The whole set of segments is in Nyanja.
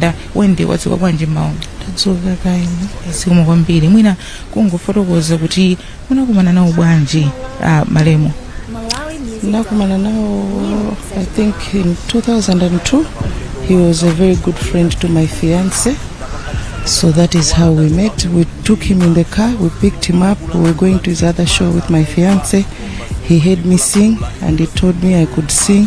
Da, wende wadzuka bwanji mawa tadzuka kaini zikomo kwambiri mwina kungofotokoza kuti munakumana nawo bwanji ah, malemu ndakumana nawo i think in 2002 he was a very good friend to my fiance so that is how we met we took him in the car we picked him up we were going to his other show with my fiance he heard me sing and he told me i could sing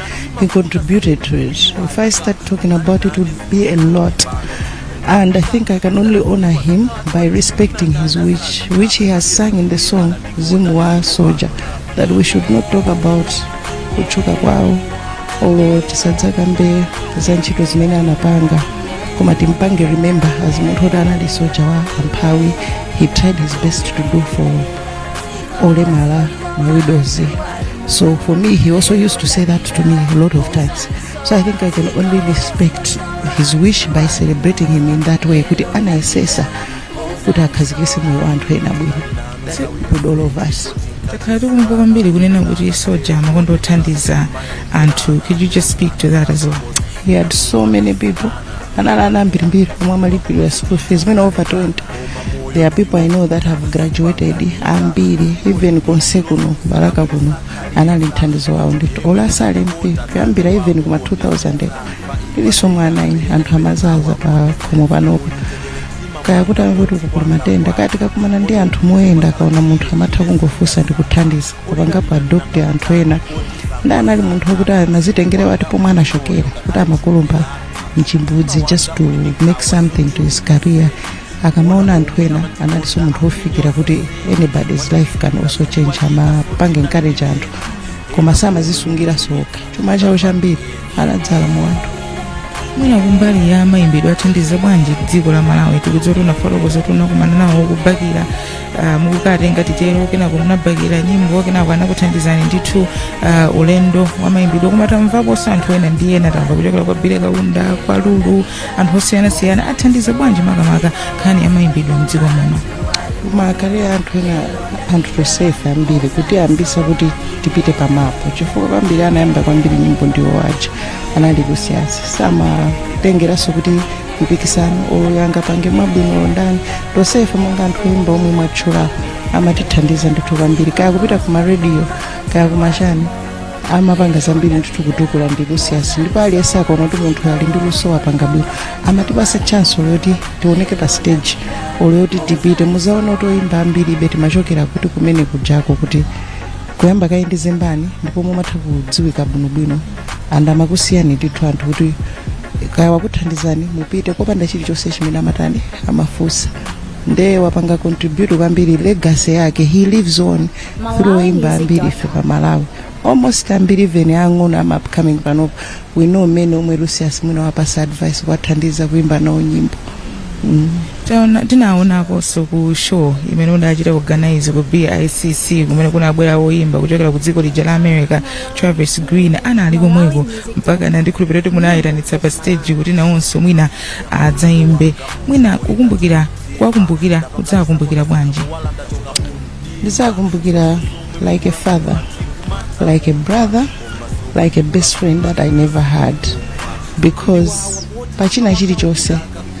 He contributed to it. If I start talking about it, it would be a lot. And I think I can only honor him by respecting his wish, which he has sung in the song Zimwa Soldier, that we should not talk about kuchuka kwao olo tisadzakambe za ntchito zimene anapanga koma timpange remember as munthu oti anali soja wa amphawi he tried his best to do for olemala mawidozi So for me, he also used to say that to me a lot of times. So I think I can only respect his wish by celebrating him in that way. Kuti anayesesa kuti akhazikise moyo wa anthu ena bwino. It's good all of us. takhala tikumva kwambiri kunena kuti Soldier amakonda kuthandiza anthu could you just speak to that as well He helped so many people. Anali ndi ana ambirimbiri omwe amalipirira school fees, mwina over 20. there are people i know that have graduated ambiri even konse kuno Balaka kuno anali mthandizo wawo ndithu olo asali MP kuyambira even kuma 2000 ndili mwana ine anthu amazaza pa khomo panopo kaya kuti akuti kukula matenda kaya tikakumana ndi anthu moyenda akaona munthu amatha kungofunsa ndi kuthandiza kupangapo adopt anthu ena ndi anali munthu wokuti samazitengera what pomwe anachokera kuti amakumba chimbudzi just to make something to his career akamaona anthu ena analinso munthu wofikirika kuti anybody's life can also change amapanga encourage anthu koma samazisungira okha chuma chawo chambiri anadzala mu anthu mwina kumbali ya mayimbidwe athandiza bwanji dziko la malawi tikudziwa kuti munafotokoza kuti munakumana nawo kubakira uh, mukukhala ngati titero kenako munabakira nyimbo kenako anakuthandizani ndithu uh, ulendo wa mayimbidwe koma tamvaponso anthu ena ndi ena tamva kuchokera kwa Billy Kaunda kwa lulu anthu osiyanasiyana athandiza bwanji makamaka nkhani ya mayimbidwe mdziko muno komaakale anthu ena anthu tosefe ambiri kutiyambisa kuti tipite pa map chifukwa kwambiri anayamba kwambiri nyimbo ndiwo aja anali ku CS samatengeranso kuti mpikisano uyu angapange bwino ndani tosefe monga anthu oyimba omwe mwatchulapo amatithandiza ndithu kwambiri kaya kupita ku marediyo kaya kuma chani amapanga zambiri ndithu kutukula ndi ku CS ndipo aliyense akaona kuti munthu ali ndi luso wapanga bwino amatipasa chance yoti tioneke pa stage olo yoti tipite muzaona kuti oyimba ambiri ife timachokera kuti kumene kujako kuti kuyamba kaye ndi Zembani ndipo mumatha kudziwika bwinobwino and amakusiyani ndithu anthu kuti kaya wakuthandizani mupite kopanda chilichonse chimene amatani amafunsa nde wapanga contribute kwambiri legacy yake he lives on through oimba ambiri ife pa malawi almost ambiri even ang'ono ama upcoming panopo we know many omwe lucius mwina wapasa advice kuwathandiza kuimba nawo nyimbo mm. Taona- tinawaonakonso ku show imene udachita organize ku bicc kumene kunabwera woyimba kuchokera ku dziko lija la america Travis Greene anali komweko mpaka na ndikhulupirira kuti munayitanitsa pa stage kuti nawonso mwina adzayimbe mwina kukumbukira kuwakumbukira kudzakumbukira bwanji ndizakumbukira like a father like a brother like a best friend that i never had because pachina chilichonse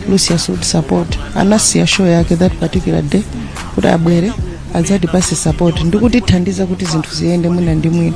lucius would support anasiya show yake that particular day kuti abwere adzatipase support ndikutithandiza kuti zinthu ziyende mwina ndi mwina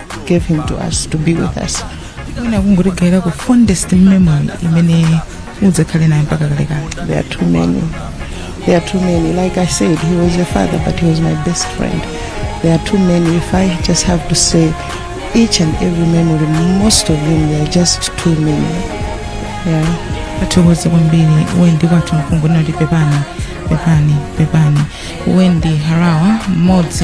gave him to us to be with us mwina kungotigaira ku fondest memory imene udzakhale nayo mpaka kalekale there are too many there are too many like i said he was a father but he was my best friend there are too many if i just have to say each and every memory most of them they are just too many yeah athokoza kwambiri wendi kwathu mkunguni kuti pepani pepani pepani wendi harawa mmodzi